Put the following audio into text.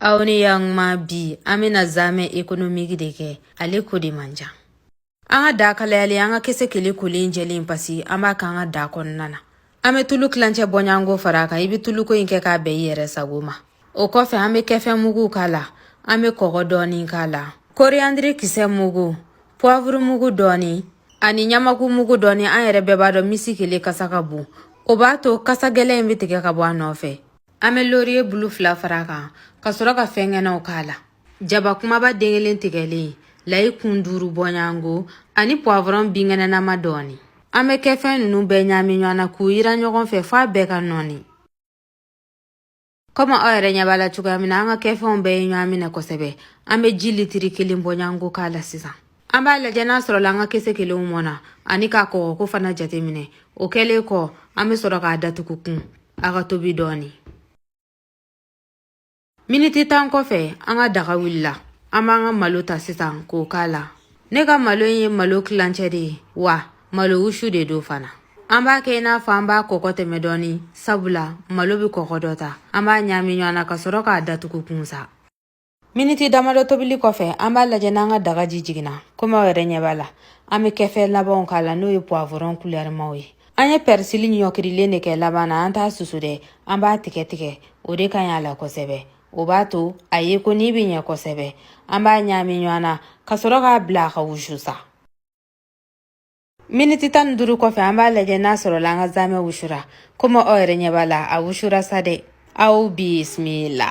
aw ni yan ma bi an bɛna zamɛ ekonomiki de kɛ ale ko de man ca an ka da kalayalen an ka kesekele kolen jɛlen pasi an b'a k'an ka da kɔnɔna na an bɛ tulu tilancɛ bɔɲanko fara a kan i bɛ tuluko in kɛ k'a bɛn i yɛrɛ sago ma o kɔfɛ an bɛ kɛfɛn mugu k'a la an bɛ kɔgɔ dɔɔni k'a la koriyandiri kisɛ mugu puwavuru mugu dɔɔni ani ɲamaku mugu dɔɔni an yɛrɛ bɛɛ b'a dɔn kesekele kasa ka bon o b'a to kasa gɛlɛn in bɛ tigɛ ka bɔ a nɔfɛ an bɛ loriye bulu fila fara a kan ka sɔrɔ ka fɛnkɛnɛw k'a la jaba kumaba den kelen tigɛlen layi kun duuru bɔɲango ani puwavɔrɔn binkɛnɛnama dɔɔni an bɛ kɛfɛn ninnu bɛɛ ɲaami ɲɔgɔn na k'u yiran ɲɔgɔn fɛ f'a bɛɛ ka nɔɔni kɔmi aw yɛrɛ ɲɛ b'a la cogoya min na an ka kɛfɛnw bɛɛ ye ɲɔgɔn minɛ kosɛbɛ an bɛ ji litiri kelen bɔɲango k'a la sisan an b'a lajɛ n'a sɔrɔla an ka kesekelew mɔna ani k'a kɔgɔ ko fana jateminɛ o kɛlen kɔ an be sɔrɔ k'a datugu kun a ka tobi dɔɔni miniti tan kɔfɛ an ka daga wulila an b'an ka malo ta sisan k'o k'a la ne ka malo ye malo kilancɛ de ye wa malo wusu de don fana an b'a kɛ i n'a fɔ an b'a kɔgɔ tɛmɛ dɔɔni sabula malo be kɔgɔ dɔ ta an b'a ɲaami ɲɔgɔn na ka sɔrɔ k'a datugu kun sa miniti damadɔ tobili kɔfɛ an b'a lajɛ n'an ka daga ji jiginna komi aw yɛrɛ ɲɛ b'a la an bɛ kɛfɛ labanw k'a la n'o ye puwavuron kulɛrimaw ye an ye pɛrisili ɲɔkirilen de kɛ laban na an t'a susu dɛ an b'a tigɛ tigɛ o de ka ɲi a la kosɛbɛ o b'a to a yeko nin bɛ ɲɛ kosɛbɛ an b'a ɲaami ɲɔgɔn na ka sɔrɔ k'a bila a ka wusu sa miniti tan ni duuru kɔfɛ an b'a lajɛ n'a sɔrɔla an ka zamɛ wusura komi aw yɛrɛ ɲɛ b'a la a wusura sa dɛ aw bisimila